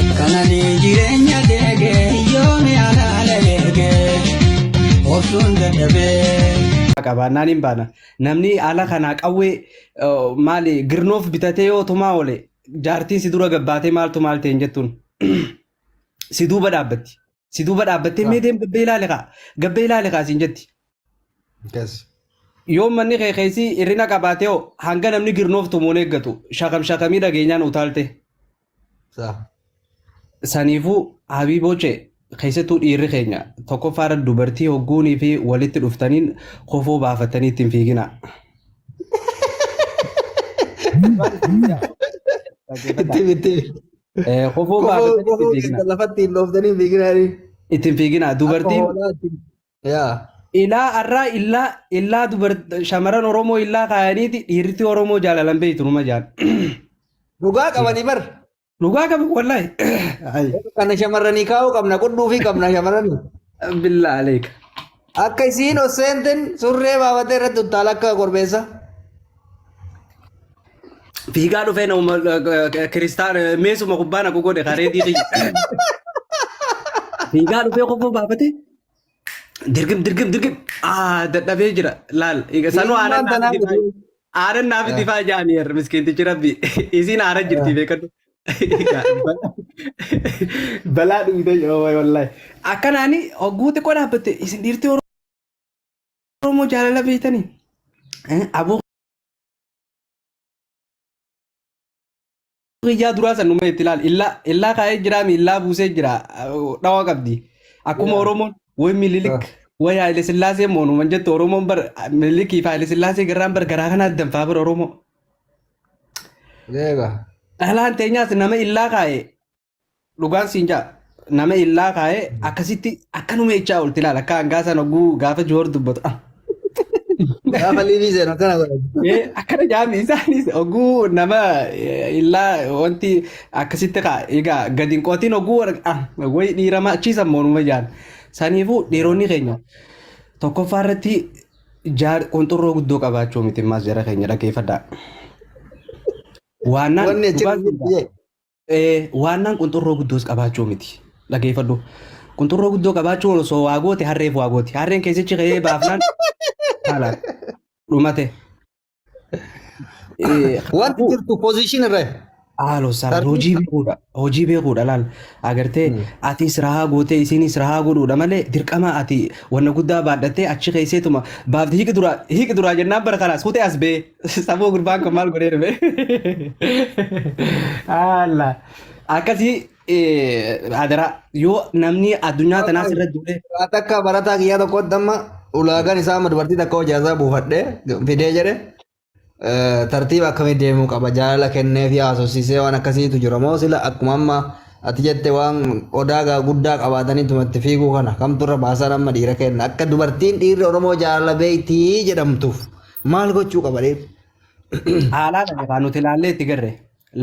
Kanani jireenya deege yoomi alaala eege obsuun dadhabee. qabaannaan hin baana. Namni ala kanaa qawwee eh, maali girnoof bitatee yoo tumaa oole jaartiin si dura gabbaatee maaltu maal ta'e hin jettuun si duuba dhaabbatti. Si duuba dhaabbattee mee deem gabbee ilaali kaa. Gabbee ilaali kaa siin jetti. Yes. Yoo manni kee keessi hirrina qabaatee hoo hanga namni girnoof tumuun eeggatu shakam shakamii dhageenyaan utaalte. Sa. Saniifuu habiibooche keessattuu dhiirri keenya tokkoffaarra dubartii hogguunii fi walitti dhuftaniin kofoo baafattanii ittiin fiigina. Itti itti. Eh, Kofoo Kofoo baadhatanii ittiin kofoo fiiginaa. keessan lafatti hin dhooftanii hin fiiginaanii. Ittiin fiiginaa. Akka Dubartiin hoolaa ittiin. Yaa. ilaa arraa illaa illaa dubar shamarran Oromoo illaa kaayaniiti dhiirti Oromoo jaalalan beektu numa jaal. Dhugaa qabanii bar. Dhugaa qabu wallaahi. Ay, Kana shamarranii kaa'uu qabna qudhuufii qabna shamarranii. Billaa aleeka. Akka isiin ol seenten surree baafatee irratti uttaala akka korbeessa. Fiigaa dhufee nama kiristaan meesuma kubbaa naqu godhe karee diidii. Fiigaa dhufee kofoo baafate. Dirgim dirgim dirgim. Aa dadhabee jira laal. Sanuu aanan Ilmaan tanaa naaf itti faa- aanan naaf itti faa jaaniyer miskiintichi rabbi. Isiin aara jirti beekadhu. Balaa dhumitee yoo wallahi. Akkanaani hogguu xiqqoo dhaabbatte isin dhiirtii Oromoo jaalala beektanii. Aboo kiyyaa duraa san dhumee itti ilaali. Illaa illaa kaa'ee jiraa mi illaa buusee jira dhawaa qabdi. Akkuma Yaa. Oromoon way mililik way Haile Sillaasee moonuman jettu Oromoon bar mililikii fi Haile Sillaasee garraan bar garaa kanaa danfaa bar Oromoo. Eega. Dhalaan teenyaas nama illaa kaa'e dhugaan siin jaa nama illaa kaa'e akkasitti akkanuma jechaa olti ilaala akka hangaa sana oguu gaafa joor dubbatu ah, Gaafa liivii seenu akkana godhatu. ee, akkana jaami isaanis oguu nama eh, illaa wanti akkasitti kaa egaa gadi hin qotin oguu warra- ah, wayi dhiirama achiisa moonuma jaan saniifuu dhiironni keenya tokkoffaa irratti Jaar kun xurroo guddoo qabaachuu miti maas jara keenya dhaggeeffadhaa. Waannaan Wanni dhugaa achirra jirtu jee. Eh, waannaan qunxurroo guddoos qabaachuu miti. Dhageeffadhu. Qunxurroo guddoo qabaachuun osoo waa goote harreef waa gooti. Harreen keessichi ka'ee baafnaan haala dhumate. Eh, Wanti kanaafuu- jirtu position irra. Haaloo sana Sarbii- hojii beekuudha. Hojii beekuudha laal. Agartee Mm. atis rahaa gootee isinis rahaa godhuudha malee dirqama ati wanna guddaa baadhattee achi keesseetuma baafti hiiki duraa hiiki duraa jennaan bara kanaas kutee as bee saboo gurbaan kan maal godhee dhufe. Haala akkasii Eh, Adaraa yoo namni addunyaa tanaas irra duule Ati akka barataa kiyyaa tokkotti amma ulaagaan isaa amma dubartii takka hojii isaa buufadhee fidee jedhe eh, tartiiba akkamii deemuu qaba jaalala kennee fi haasofsiisee waan akkasiitu jira moo sila akkuma amma ati jette waan odaa gaa guddaa qabaatanii tumatti fiiguu kana kamtu irra baasaan amma dhiira kenna akka dubartiin dhiirri oromoo jaalala beektii jedhamtuuf maal gochuu qaba dhiirri? haalaa dha yookaan nuti ilaallee itti garre.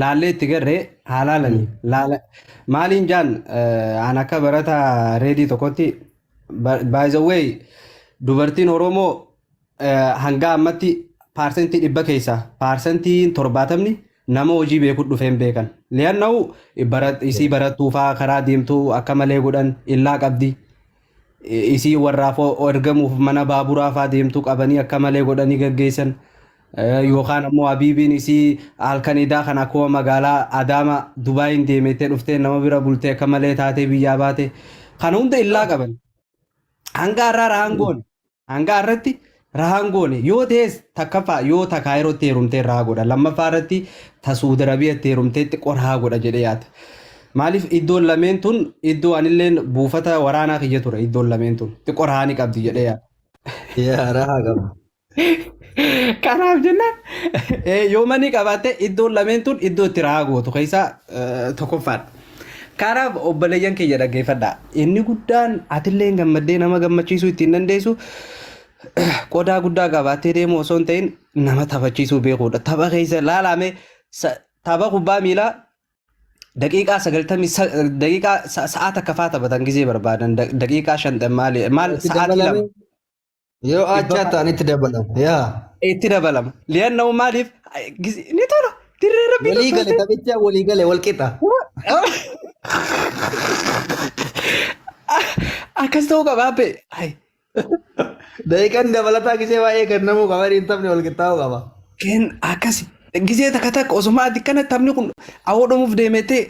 laallee itti garree haa Mm. laalanii laala maaliin jaan eh, aan akka barataa reedii tokkotti by the way dubartiin oromoo eh, hanga ammatti paarsentii dhibba keessaa paarsentiin torbaatamni nama hojii beeku dhufeen beekan li'anna'u isii barattuufaa karaa deemtuu akka malee godhan illaa qabdi Isii warraa foo ergamuuf mana baaburaa faa deemtu qabanii akka malee godhanii gaggeessan. Eh, Yookaan ammoo Habiibiin isii halkan idaa kan akkuma magaalaa Adaama Dubaayiin deemeettee dhuftee nama bira bultee akka malee taatee biyyaa baate. Kana hunda illaa qaban. Hanga har'aa raangoon Hanga har'atti rahaan goone yoo ta'es takkaffaa yoo ta kaayirootti heerumtee rahaa godha lammaffaa irratti ta suudi arabiyaatti heerumteetti qorahaa godha jedhee yaada. Maaliif iddoon lameen tun iddoo anilleen buufata waraanaa kiyya ture iddoon lameen tun xiqqoo rahaa ni qabdi jedhee yaada. Yaa rahaa qaba. Kanaaf jennaan eh, yoo manii qabaatte iddoon lameen tun iddoo itti rahaa gootu keessaa eh, tokkoffaadha. Kanaaf obboleeyyan kiyya dhaggeeffadha. Inni guddaan atilleen gammaddee nama gammachiisuu ittiin dandeessu qodaa guddaa qabaattee deemuu osoo hin ta'in nama taphachiisuu beekuudha. Tapha keessa laalaame tapha kubbaa miilaa daqiiqaa sagaltamii daqiiqaa sa'aa takka fa'aa taphatan gizee barbaadan daqiiqaa shantamii maali maal sa'aatii lama. Yoo aachaa Dhibbama- ta'an itti dabalama. Yaa. itti dabalama. Li'annahu maaliif gis- ni tola dirree rabbii Walii gale tolfamtee. taphicha walii gale wal qixa. Akkas ta'uu qaba abbe. Ay, Daqiiqaan dabalataa gisee baay'ee kennamuu qaba. Inni taphni wal qixxaa'uu qaba. Keen akkasi. Gisee takka takka osuma ati kana taphni kun awoo dhumuuf deemetee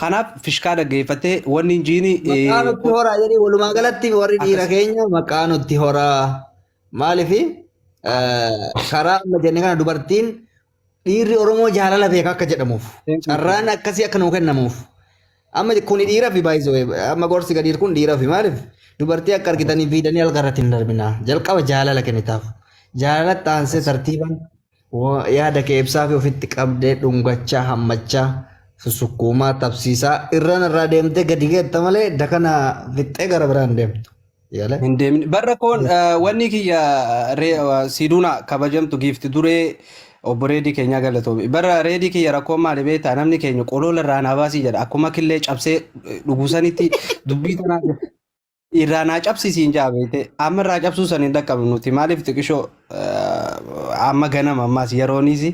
Kanaaf fishkaa dhaggeeffattee wanni hin jiini. Maqaa nutti horaa jedhee walumaa galatti warri dhiira keenya maqaa nutti horaa maaliif karaa amma jenne kana dubartiin dhiirri Oromoo jaalala beeka akka jedhamuuf carraan akkasii akka nuu kennamuuf amma kuni dhiira fi baay'isee amma gorsi gadiir kun dhiira fi maaliif dubartii akka argitanii fiidanii algarratti hin darbinaa jalqaba jaalala kennitaaf jaalala taansee tartiibaan Yaada kee ibsaafi ofitti qabdee dhungachaa, hammachaa, susukkuumaa, tabsiisaa irrana irraa deemtee gadi geetta malee dakana fixxee gara biraan deemtu. Yaala. Hin deemne. Barra koon wanni kiyya siiduuna kabajamtu giifti duree obbo Reedii keenyaa galatoomi. Barra Reedii kiyya rakkoon maali beektaa namni keenya qoloola irraa naa baasii jedha. Akkuma killee cabsee dhugusanitti dubbii tanaa irraa naa cabsi siin jaa beekte amma irraa cabsuu san hin dhaqqabnu nuti maaliif xiqishoo eh, amma ganama ammaas yerooniis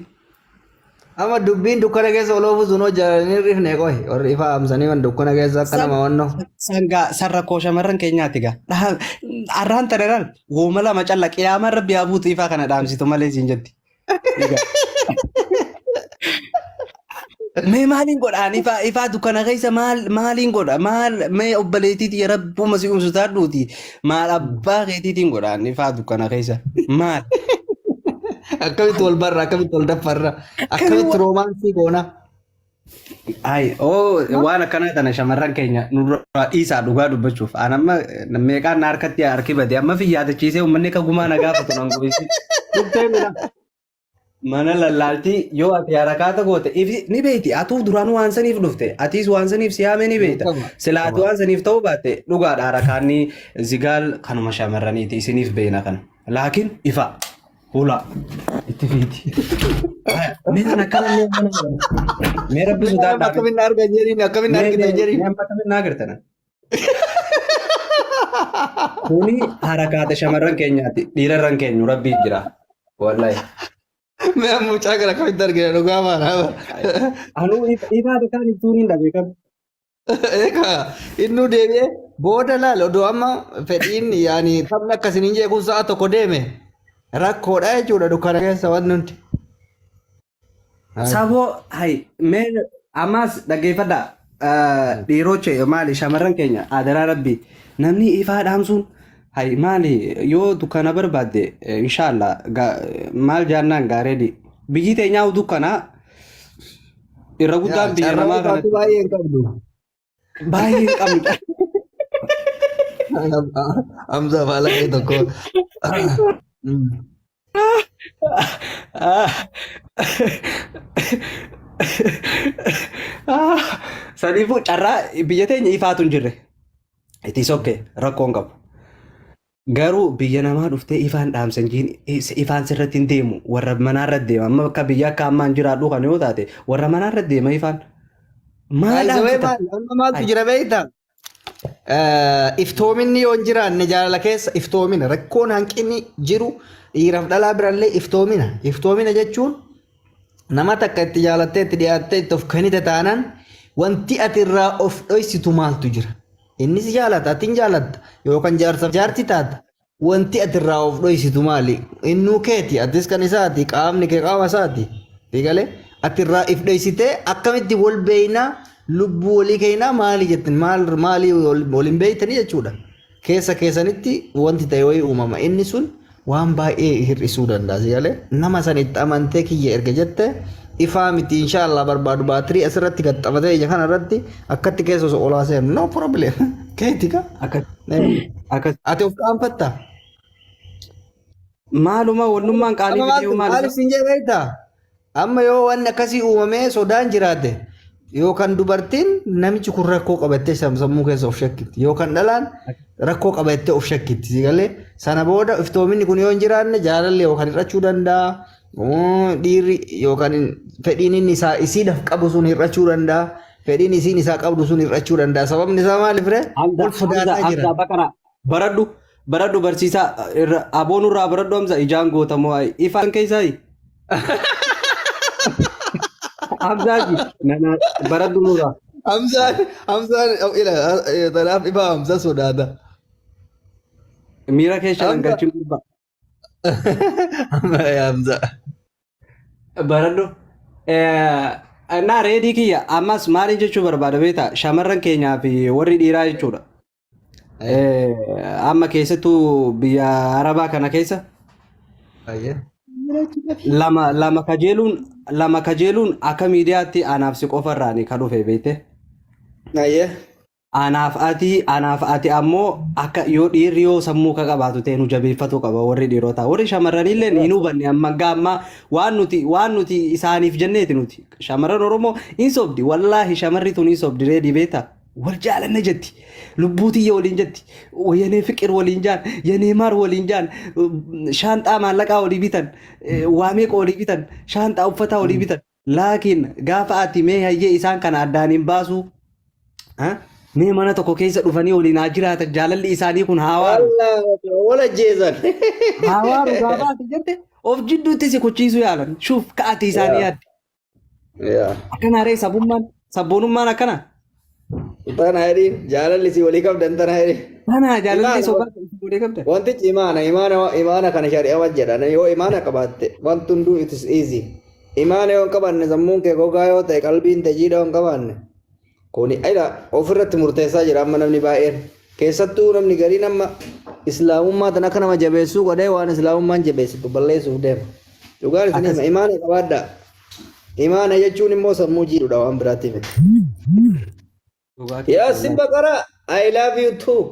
Amma dubbiin dukkana keessa oloofu sun hojjetanii rifne qohi. Warri ifa amsanii wan dukkana keessa akka nama wannoo. sangaa san rakkoo shamarran keenyaati gaa Dhaha- arraan tanaraan wooma lama calla qiyaamaan rabbi haa buutu ifaa kana dhaamsitu malee siin jetti Mee maaliin godha? Ani ifaa ifaa dukkana keessa maal maaliin godha? Maal mee obboleettiiti ya rabbuma si umsu taadhuuti maal abbaa keetiitiin godha? Ani ifaa dukkana keessa maal? Akkamitti wal barra? Akkamitti wal daffarra? Akkamitti roomaansii goona? Ayi, oo Moo? waan akkanaa tana shamarran keenya nurraa dhiisaa dhugaa dubbachuuf. Aan amma meeqaan na harkatti harki bade amma fi yaadachiisee uummanni akka gumaa na gaafatu nan goisi. Dhuftee mina. Mana lallaaltii yoo ati harakaata goote ifi ni beekti. Atuu duraan waan saniif dhufte. Atiis waan saniif si yaamee ni beekta. Beekama. Sila ati waan saniif ta'uu baatte dhugaadha harakaanni zigaal kanuma shamarraniiti isiniif beekna kana. Laakiin ifa. Hula. Itti fiiti. Mee kan akkana mee mana mana. Mee rabbi sodaa dhaabee. Akkamiin na arga jedhiin akkamiin na argita jedhiin. Amma akkamiin naa gartana? Kuni harakaata shamarran keenyaati. Dhiirarran keenyu rabbii jira. Wallahi. Mee amma mucaa kana akkamitti argina dhugaa maana. Anuu ifaata kaan ittuu ni dhabe qabu. Egaa innuu deebi'ee booda laal odoo amma fedhiin yaani taphni akkasiin hin jeequun sa'a tokko deeme rakkoodha jechuudha dukkana keessa wanti hundi. Saboo hay mee ammaas dhaggeeffadha dhiiroche maali shamarran keenya adaraa rabbi namni ifaa dhaamsuun hay maali yoo dukkana barbaadde inshaallah maal jaannaan gaareedi biyyi teenyaa dukkanaa Irra guddaan biyya Carraa namaa isaatti kanatti baay'ee hin qabdu. baay'ee hin qabnudha. Hamza faala kee tokko. Saniifuu carraa biyya teenya ifaatu hin jirre. Itti sokke rakkoon qabu. Garuu biyya namaa dhuftee ifaan dhaamsa hin jiin ifaan sirratti hin deemu warra manaarra deema amma akka biyya akka ammaan jiraadhu kan yoo taate warra manaarra deema ifaan maal Baay'isawee dhaamsita maal amma maaltu Ay. jira beektaa? Eh, Iftoominni yoo hin jiraanne jaalala keessa iftoomina rakkoon hanqinni jiru dhiiraaf dhalaa birallee iftoomina. Iftoomina jechuun nama takka itti jaalattee itti dhiyaattee itti of kennite taanaan wanti ati irraa of dhoysitu maaltu jira? Inni si jaalata, ati hin jaalatta. Yookaan jaarsaaf jaarti taata. Wanti ati irraa of dhoysitu maali? Innuu keeti, atis kan isaati, qaamni kee qaama isaati. Eegalee ati irraa if dhoysitee akkamitti wal beeynaa lubbuu walii keenyaa maali jettin maal maalii wal hin beeytanii jechuudha. Keessa keessanitti wanti ta'e wayii uumama. Inni sun waan baay'ee hir'isuu danda'a si galee nama san itti amantee kiyya erga jette ifaa miti insha Allah barbaadu baatirii asirratti gaxxabatee ija kana irratti akkatti keessa osoo olaa seenu no problem keeti ka Akka akka ati of qaanfatta maaluma wannummaan qaalii Amma video maal maal isin jedhe beektaa? Amma yoo waan akkasii uumamee sodaan jiraate yookaan dubartiin namichi kun rakkoo qabattee sam- sammuu keessa of shakkitti yookaan dhalaan rakkoo qabattee of shakkitti si galee sana booda iftoominni kun yoo hin jiraanne jaalalli yookaan hir'achuu danda'a mm, dhiirri yookaan hin- fedhiin inni isaa isiidhaaf qabu sun hir'achuu danda'a fedhiin isiin isaa qabdu sun hir'achuu danda'a sababni isaa maaliif ree Hamza, wal Hamza, sodaataa jira. Hamza, Baqara, Baradhu baradhu barsiisaa irra aboo nurraa baradhu amsa ijaan goota moo ayi ifaan keessaa ayi. Abzaaji nana baradhu nurraa. Hamzaan Hamzaan ila tanaaf ifaa Hamza sodaata. Miira keessa Hamza. galchuun gurbaa. Hamza. Baradhu. Naa reedii kiyya ammas maaliin jechuu barbaada beektaa shamarran keenyaa fi warri dhiiraa jechuudha. Eh, Amma keessattuu biyya Arabaa kana keessa Ayyee. lama lama kajeeluun lama kajeeluun akka miidiyaatti anaaf si qofarraani ka dhufe beekte. Ayyee. Anaaf ati anaaf ati ammoo akka yoo dhiirri yoo sammuu ka qabaatu ta'e nu jabeeffatu qaba warri dhiirotaa warri shamarranillee hin hubanne amma hanga ammaa waan nuti waan nuti isaaniif jenneeti nuti shamarran Oromoo hin sobdi wallaahi shamarri tun hin sobdi reedii beektaa. wal jaalanne jetti lubbuu tiyya waliin jetti wayanee fiqir waliin jaan yanee maar waliin jaan shaanxaa maallaqaa walii bitan waa meeqa walii bitan shaanxaa uffataa walii bitan laakiin gaafa ati mee hayyee isaan kana addaan hin baasuu ha? mee mana tokko keessa dhufanii waliin haa jiraatan jaalalli isaanii kun haa waaru Wallah, wal ajjeesan. haa waaru gaafa ati jette of jidduutti si kuchiisuu yaalan shuuf ka'ati isaanii yaadde Yaa. Akkana haree sabummaan sabboonummaan akkana. Tana jedhiin jaalalli si walii qabdan tana jedhiin. Kana jaalallee Imaana- sobaa godhee qabda. Wantichi imaana imaana imaana kana shari'a wajji jedhan yoo imaana qabaatte wanti hunduu it is easy. Imaana yoo hin qabaanne sammuun kee gogaa yoo ta'e qalbiin tee jiidhaa yoo hin qabaanne Kuni ila ofirratti murteessaa jira amma namni baay'een. Keessattuu namni gariin amma islaamummaa tan akka nama jabeessuu godhee waan islaamummaan jabeessitu balleessuuf deema. Dhugaan isin hima Akkas. imaana qabaadhaa. Imaana jechuun immoo sammuu jiidhudha waan biraatti miti. Dhugaa keessan Yaasin Baqaraa I love you too.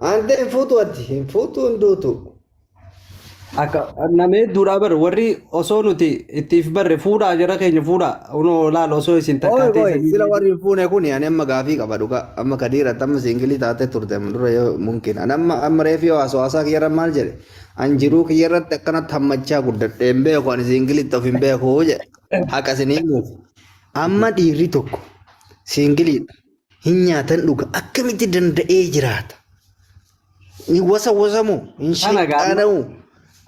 Aantee hin fuutu ati hin fuutu hin duutu. Akka nama hedduudhaa bar warri osoo nuti ittiif barre fuudhaa jara keenya fuudhaa unoo laal osoo isin takkaa Ooy booy teessanii sila warri hin fuune kuni ani amma gaafii qaba dhugaa amma kadiiratti amma siingilii taatee turte amma dura yoo mumkin ani amma amma reefi yoo haasoo haasaa kiyyarra maal jedhe an jiruu kiyyarratti akkanatti hammachaa guddadhe hin beeku ani siingilitti of hin beeku jedhe haqa isin himuuf amma dhiirri tokko siingiliidha Hin nyaatan dhuga akkamitti danda'ee jiraata? Ni wasa wasa moo? Hin Kana gaadhu. sheexaana moo?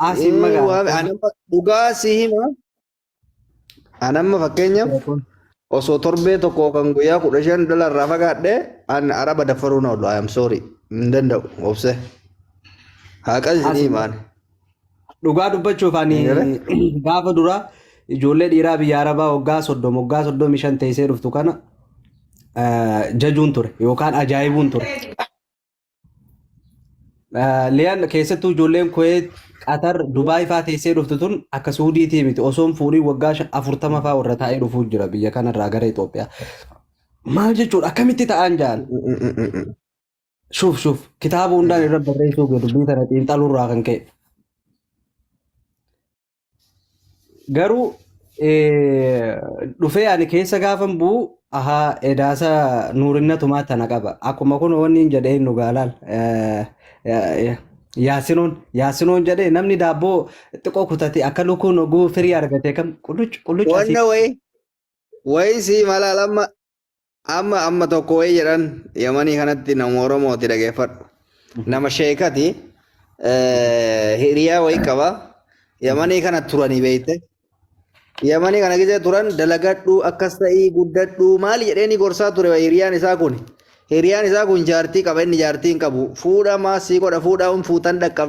Asiin magaala. Waan- anamma dhugaa si hima. Anamma fakkeenyaaf osoo torbee tokko kan guyyaa kudha shan dhala irraa fagaadhe an araba daffaruu na oolu. I am sorry. Hin danda'u obse. Haqa isin himaan. Dhugaa dubbachuuf ani Hin galee? gaafa dura ijoollee dhiiraa biyya Arabaa waggaa soddoma waggaa soddomii shan teessee dhuftu kana eh, jajuun ture yookaan ajaa'ibuun ture. Eh, Liyan keessattuu ijoolleen Kuweet, Qatar, Dubaay faa teessee dhuftu tun akka Suudiitii miti osoon fuudhii waggaa shan- afurtama faa warra taa'ee dhufuu jira biyya kanarraa gara Itoophiyaa. Maal jechuudha akkamitti ta'an jaan? Shuuf shuuf kitaaba hundaan irra barreessuu kee dubbii tana xiinxaluu irraa kan ka'e. Garuu eh, dhufee ani keessa gaafan bu'u ahaa edaasa nuurinna tumaa tana qaba. Akkuma kun wanni hin jedhee nu gaalaal. Eh, eh, Yaasinoon yaasinoon jedhee namni daabboo xiqqoo kutate akka lukkuun oguu firii argate kam qulluc qulluc asii Wanna wayi wayi sii malal amma Amma amma tokko wayii jedhan yamanii kanatti nama Oromooti dhageeffadhu. Nama sheekati eh, hiriyaa wayii qaba. Yamanii kana turanii beekte. Yamanii kana gisee turan dalagadhu akkas ta'ii guddadhu maali jedheenii gorsaa ture wayii hiriyaan isaa kun. Hiriyaan isaa kun jaartii qaba inni jaartii hin qabu. Fuudha maasii godha fuudha hin fuutan dhaqqabda.